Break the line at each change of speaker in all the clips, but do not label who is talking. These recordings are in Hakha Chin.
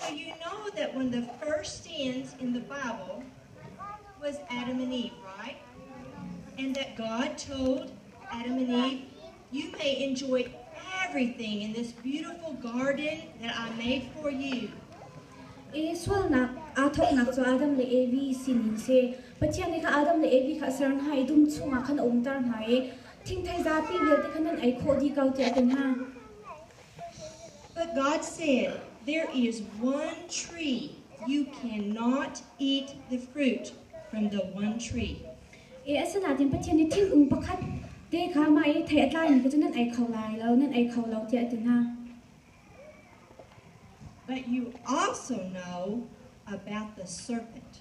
So you know that one of the first sins in the Bible was Adam and Eve, right? And that God told Adam and Eve, You may enjoy everything in this beautiful garden that I made for you. E sualnak aa thawknak cu Adam le Evi sin in si. Pathian nih kha Adam le Evi kha a ser hna i dum chungah khan a umter hna i Thingthei zapi vialte kha nan ei khawh dih ko tiah a ti hna. But God said, There is one tree you cannot eat the fruit from the one tree. E a sinatin Pathian i thingkung pakhat te kha ma i thei a tlaimi kha cu nan ei kho lai lo, nan ei kho lo tiah a ti hna. But you also know about the serpent.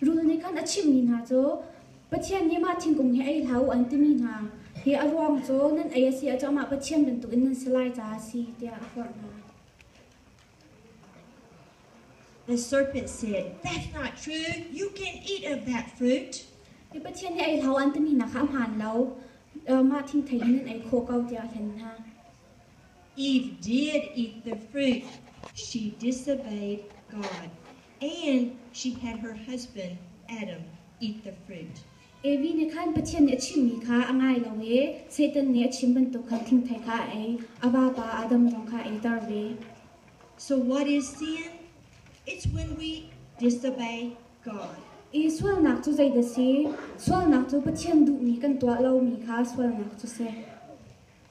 Rul nih khan a chimmi hna cu Pathian nih mah thingkung hi ei hlah u an timi hna hi a ruang cu nan ei a si ahcun amah Pathian bantukin nan si lai caah a si tiah a forh hna. The serpent said, That's not true. You can eat of that fruit. Hi Pathian hi ei hlau an timi hna kha a hmaan lo. Mah thingthei in nan ei khawh ko tiah a hlen hna. Eve did eat the fruit. She disobeyed God, and she had her husband Adam eat the fruit. Evi nih khan Pathian nih a chimmi kha a ngai lo i Satan nih a chim bantuk khan thingthei kha a ei, a vapa Adam zong kha a eiter ve. So what is sin? It's when we disobey God. I sualnak cu zei dah si? Sualnak cu Pathian duhmi kan tuah lomi kha sualnak cu si.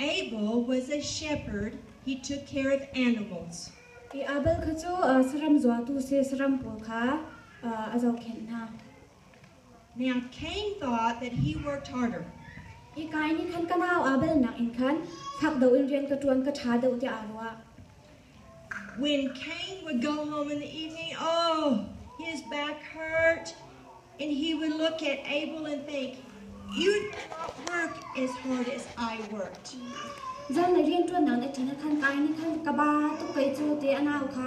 Abel was a shepherd, he took care of animals. I Abel kha cu saram zuatu si saram pawl kha a zohkhenh hna. Now Cain thought that he worked harder. I Kain nih khan ka nau Abel nakin khan fak deuh in rian ka ṭuan ka ṭha deuh tiah aa ruah. When Cain would go home in the evening, oh, his back hurt, and he would look at Abel and think, You did not work as hard as I worked. Zan na rian tuan nang ati na khan kai ni khan ka ba tu kai chu te anau kha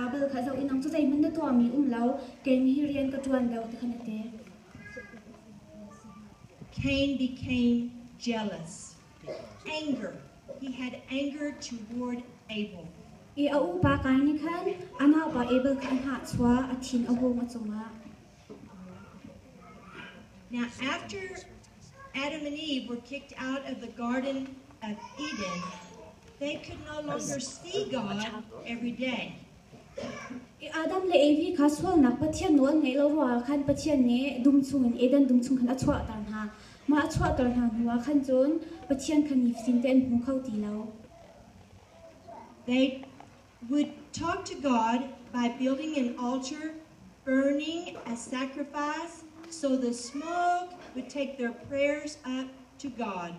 Abel kha zo in nang chu zai mun na to mi um lo keim hi rian ka tuan lo te khan ate Cain became jealous. anger. He had anger toward Abel. I a upa kai nih khan amah pa Abel kha a hnahchua a thin a hung a cungah. Now after Adam and Eve were kicked out of the garden of Eden, they could no longer see God every day. Adam le Evi kha sualnak Pathian nawl an ngaih lo ruangah khan Pathian nih dum chungin Eden dum chung khan a chuahter hna. Mah a chuahter hna hnuah khan cun Pathian kha nifatin te an hmu kho ti lo. They would talk to God by building an altar, burning a sacrifice, so the smoke would take their prayers up to God.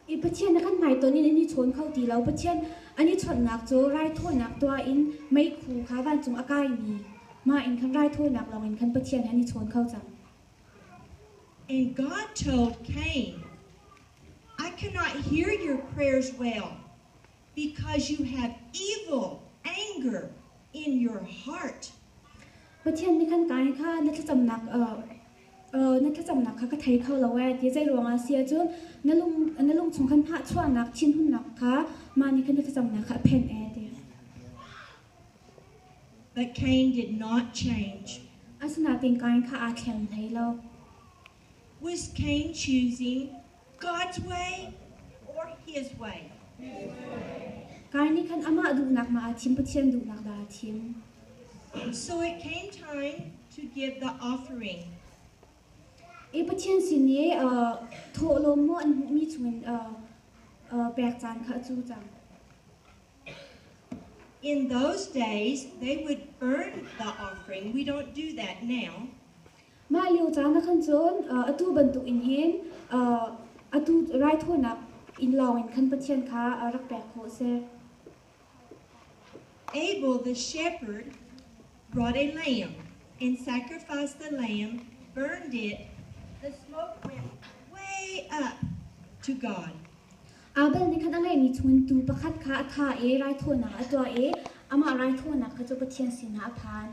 I Pathian na kan hmai ton in an i chawn kho ti lo. Pathian an i chawnhnak cu raithawinak tuah in meikhu kha vancung a kaimi mah in khan raithawinak lawng in khan Pathian he an i chawn kho cang. And God told Cain, I cannot hear your prayers well, because you have evil anger in your heart. Pathian nih kan kai kha na thlacamnak na thlacamnak kha ka thei kho lo e ti zei ruangah si cun na lung na lung chung khan phah chuahnak thinhunnak kha mah nih khan na thlacamnak kha a phenh e ti. But Cain did not change. Asinain kai kha aa thleng thei lo. Was Cain choosing God's way or His way? Kai nih khan amah duhnak ma aa thim Pathian duhnak dah aa thim. So it came time to give the offering. E Pathian sin i thawh lawm maw an hmuhmi chungin pek caan kha cu cang. In those days they would burn the offering. We don't do that now. Mah lio caan ah khan cun uh, atu bantukin hin uh, atu raithawinak in lawngin khan Pathian kha uh, rak pek khawh a si. Abel the shepherd brought a lamb and sacrificed the lamb, burned it. The smoke went way up to God. Abel nih khan a ngeimi chuntu pakhat kha a thah i raithawinak a tuah i amah raithawinak kha cu Pathian sinah a phan.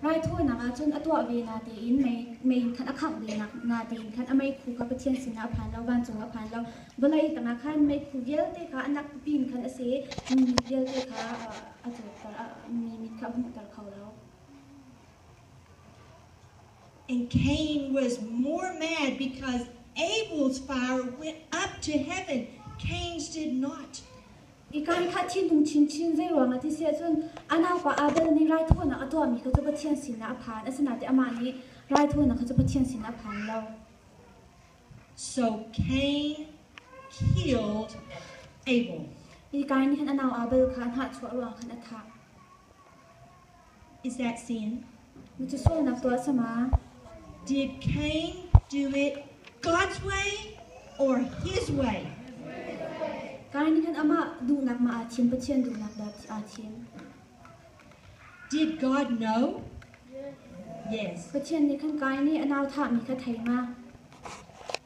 Raithawinak ah cun a tuah ve na tein mei in khan a khangh ve na tein khan a meikhu kha Pathian sinah a phan lo, vancung ah a phan lo. Vawlei tangah khan meikhu vialte kha a nak pipi in khan a si, mi vialte kha a tlukter, mi mit kha a hmuhter kho lo. And Cain was more mad because Abel's fire went up to heaven. Cain's did not. I kan khat thinhung chinchin. Zeiruangah ti si ahcun a naupa Abel nih raithawinak a tuahmi kha cu Pathian sinah a phan, asinain amah nih raithawinak kha cu Pathian sinah a phan lo. So Cain killed Abel. I Kain nih khan a nau Abel kha a hnahchuah ruangah khan a thah. Kai nih khan amah duhnak mah ah thim, Pathian duhnak dah aa thim. Did God know? Yes. Pathian nih khan Kai nih a nauthahmi kha thei ma?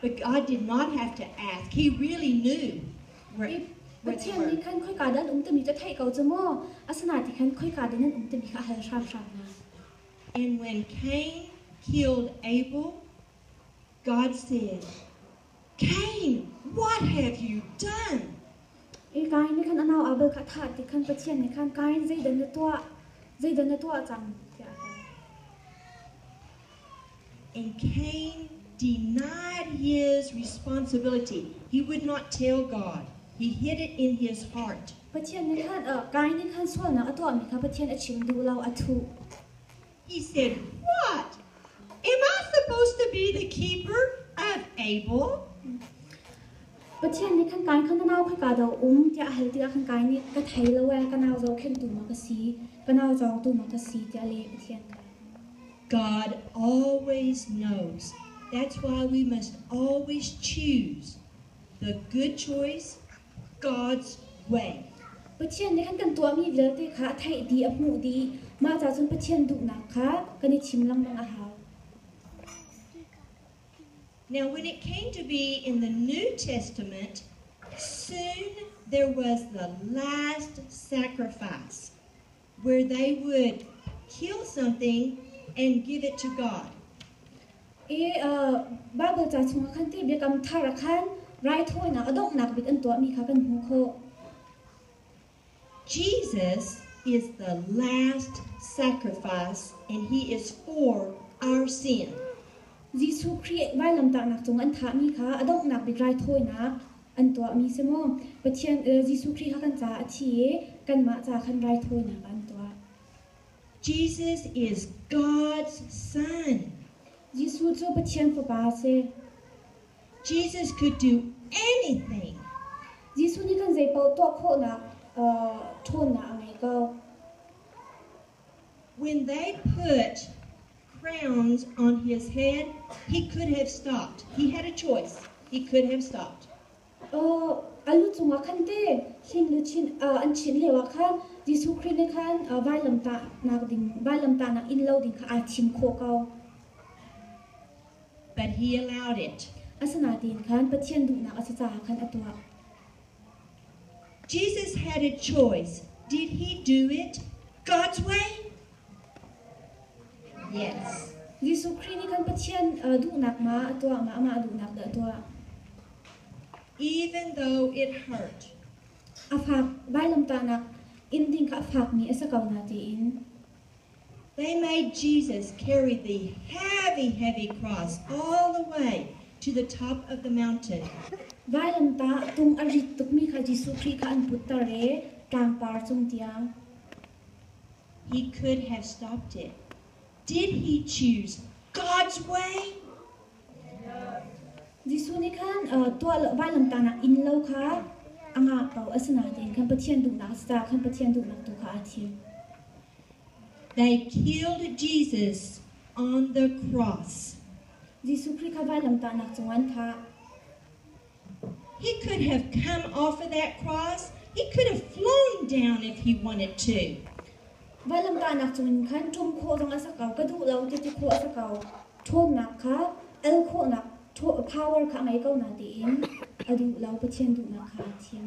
But I did not have to ask. He really knew where Pathian nih khan khoika dan um timi ka thei ko chu maw asana ti khan khoika dan um timi ka hal hram hram And when Cain killed Abel God said Cain what have you done i kain ni khan anau abel kha tha ti khan pathian ni khan kain zeidan na tua zeidan na tua chang And Cain denied his responsibility. He would not tell God. He hid it in his heart. Pathian nih khan uh, Kain nih khan sualnak a tuahmi kha Pathian a chim duh lo a thuh. He said, "What? Am I supposed to be the keeper of Abel?" Pathian nih khan Kain khan nau kha ka do um tiah a hal tikah khan Kain nih ka thei lo e ka nau zohkhentu mak a si ka nau cawngtu mak a si tiah leh Pathian kha God always knows. That's why we must always choose the good choice God's way. Pathian nih an kan tuahmi vialte kha a theih dih, a hmuh dih. Mah cacun Pathian duhnak kha kan i thim lengmang a hau. Now, when it came to be in the New Testament, soon there was the last sacrifice. where they would kill something and give it to God. I Bible ca chungah khan ti biakam thar ah khan raithawinak a donghnak bik an tuahmi kha kan hmuh khawh. Jesus is the last sacrifice and he is for our sin. Jesuh Khrih vailamtaknak cung an thahmi kha a donghnak bik raithawinak An tuahmi si maw? Pathian le Jesuh Khrih kha kan ca a thi i kanmah ca khan raithawinak ah an tuah. Jesus is God's Son. Jesuh cu Pathian Fapa a si. Jesus could do anything. Jesuh nih kan zei paoh tuah khawhnak ṭhawnnak a ngei ko. When they put crowns on his head, he could have stopped. He had a choice. He could have stopped. Aw, a lu cungah khan te khin luchin ah an chin lio ah khan Jesuh Khrih nih khan uh, vailamtahnak ding vailamtahnak in lo ding kha aa thim khawh ko. But he allowed it. Asinain khan Pathian duhnak a si caah khan a tuah. Jesus had a choice. Did he do it God's way? Yes. Jesuh Khrih nih kan Pathian uh, duhnak ma a tuah ma amah duhnak dah tuah. Even though it hurt. A fak vailamtahnak in ding kha a fakmi a si ko na tiin. They made Jesus carry the heavy, heavy cross all the way to the top of the mountain. Vailamtah tung a rit tukmi kha Jesuh Khrih kha an putter i tlangpar cung tiang. He could have stopped it. Did he choose God's way? Jesuh nih khan tuah lo vailamtang ah inn lo kha a ngah ko a si nain khan Pathian dumnak a si caah khan Pathian dumnak tu kha aa thim. They killed Jesus on the cross. Jesuh Khrih kha vailamtahnak cungah an thah. He could have come off of that cross. He could have flown down if he wanted to. Vailam tahnak cungin khan ṭum khawh zong a sak ko ka duh lo ti ti khawh a sak ko ṭhawmnak kha el khawhnak power kha a ngei ko na tiin a duh lo Pathian duhnak kha a thim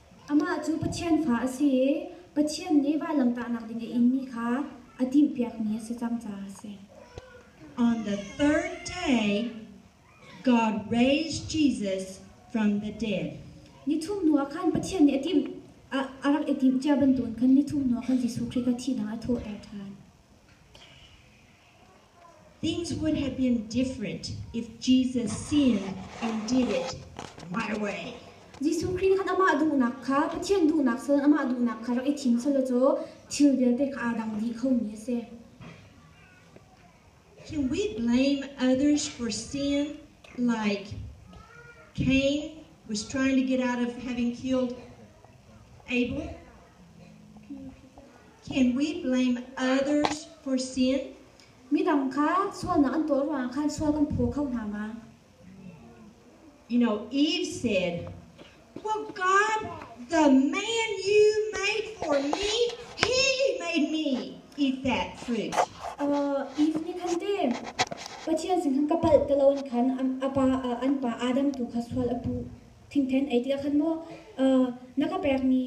Amah cu Pathian fa a si i Pathian nih vanlamtahnak ding a inmi kha a timhpiakmi a si cang caah a si. On the third day, God raised Jesus from the dead. Nithum hnuah khan Pathian nih a timh a rak i timh cia bantukin khan nithum hnuah khan Jesuh Khrih kha thihnak a thawhter ṭhan. Things would have been different if Jesus seen and did it my way. Jesuh Khrih khan amah duhnak kha Pathian duhnak sal amah duhnak kha rak i thim selaw caw thil vialte kha aa dang dih khomi a si. Can we blame others for sin like Cain was trying to get out of having killed Abel? Can we blame others for sin? Midang kha sualnak an tuah ruangah khan sual kan phaw kho hna ma? You know, Eve said, Well, God, the man you made for me, he made me eat that fruit. Uh, Eve nih khan te Pathian sin khan ka palh ti lo an khan an, a pa uh, an pa Adam tu kha sual a puh thingthen ei ti ah khan maw na ka pekmi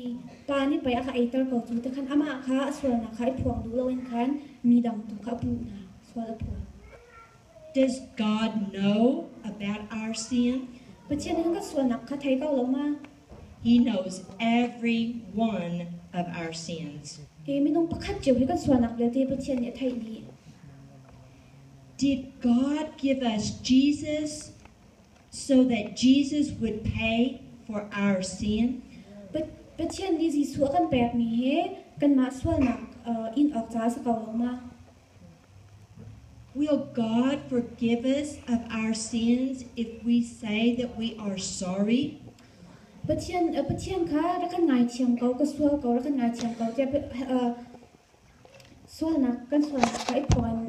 pa nih pei a ka eiter ko tu te khan amah kha a sualnak kha i phuang duh loin khan mi dang tu kha a puh hna sual a phuang Does God know about our sin? Pathian in ka sualnak kha thei ko lo ma He knows every one of our sins. E minung pakhat cio hi kan sualnak vialte Pathian nih a theih ni Did God give us Jesus so that Jesus would pay for our sin. But Pathian nih Jesuh a kan pekmi hi kanmah sualnak uh, in awk caah a si ko lo ma? Will God forgive us of our sins if we say that we are sorry? Pathian uh, Pathian kha rak kan ngaithiam ko, ka sual ko, rak kan ngaithiam ko tiah uh, sualnak kan sualnak kha i phuan